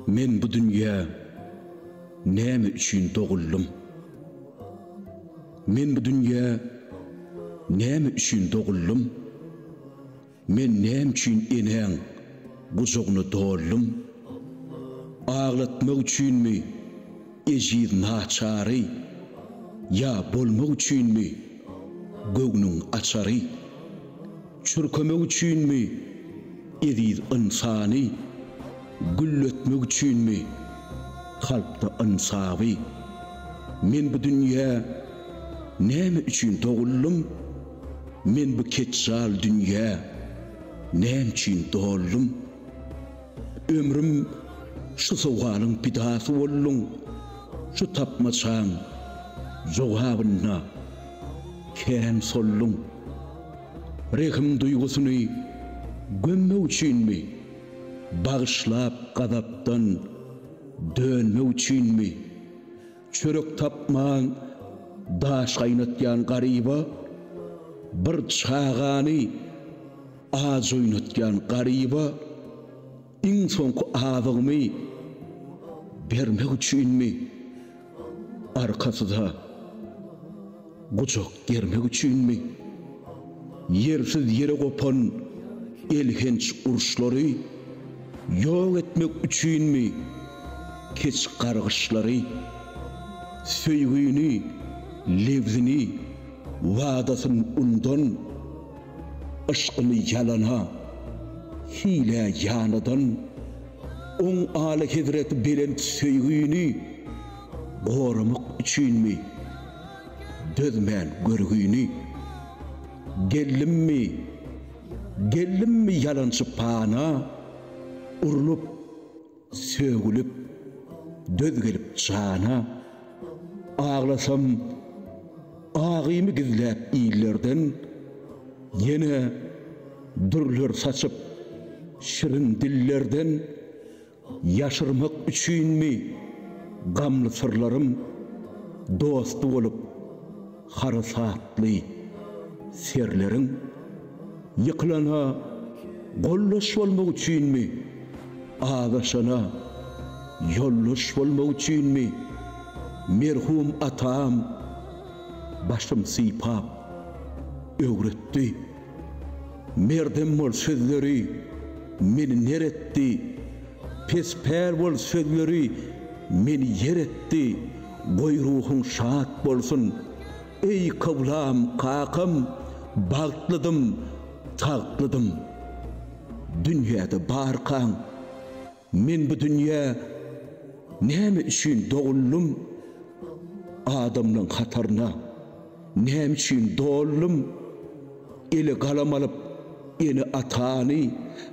Men bu dünýä näme üçin doguldym? Men bu dünýä näme üçin doguldym? Men näme üçin enäň gujagyna doldum? Aglatmak üçinmi? Ejiz naçary, Ýa bolmak üçinmi, Göwnüň açary? Çürkemek üçinmi, Eziz ynsany? Gülletmek üçinmi, Kalpda ynsaby? Men bu dünýä Näme üçin doguldym? Men bu ketjal dünýä Nämçün doldum? Ömrüm şu sowgalyň pidasy boldum, şu tapmaçaň jogabynda kän soldum. Rehim duýgusyny gömmek üçinmi, bagyşlap gazapdan dönmek üçinmi, çörek tapman daş gaýnatýan garyba bir çagany, Aç oýnatýan garyba iň soňky azygymy bermek üçinmi, arkasyza gujak germek üçinmi, ýersiz-ýere gopan elhenç uruşlary ýok etmek üçinmi, keç-gargyşlary, söýgini, lebzini, wadasyn undan, Yşkyny ýalana, hilä ýanadan, Oň Alyhezreti belent söýgini Goramak üçinmi, dözmän görgini? Geldimmi, geldimmi ýalançy pana, Urlup, Sögülip, döz gelip jana, Aglasam, agymy gizläp illerden, Ýene dürler saçyp, şirin dillerden, Ýaşyrmak üçinmi, gamly syrlarym, Dosty bolup, harasatly serleriň ýykylana goldaş bolmak üçinmi, azaşana ýoldaş bolmak üçinmi, merhum atam başym sypap öwretdi. Merdem bol sözleri meni ner etdi, pes-päl bol sözleri meni ýer etdi. Goý ruhuň şat bolsun. Eý kyblam kakam bagtlydym tagtlydym dünýäde barkaň men bu dünýä näme üçin doguldym adamlaň hataryna. Näme üçin doldum? Ele galam alyp, ene-atany,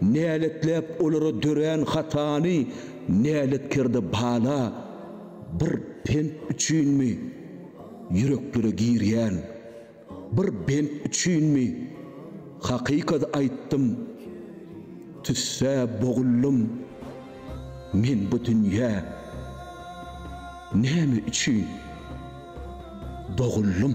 Näletläp olara dörän hatany, Näletkerde bala, bir pent üçinmi, Ýüreklere girýän bir bent üçinmi, Hakykat aýtdym, tüssä boguldym, Men bu dünýä näme üçin? Doguldym.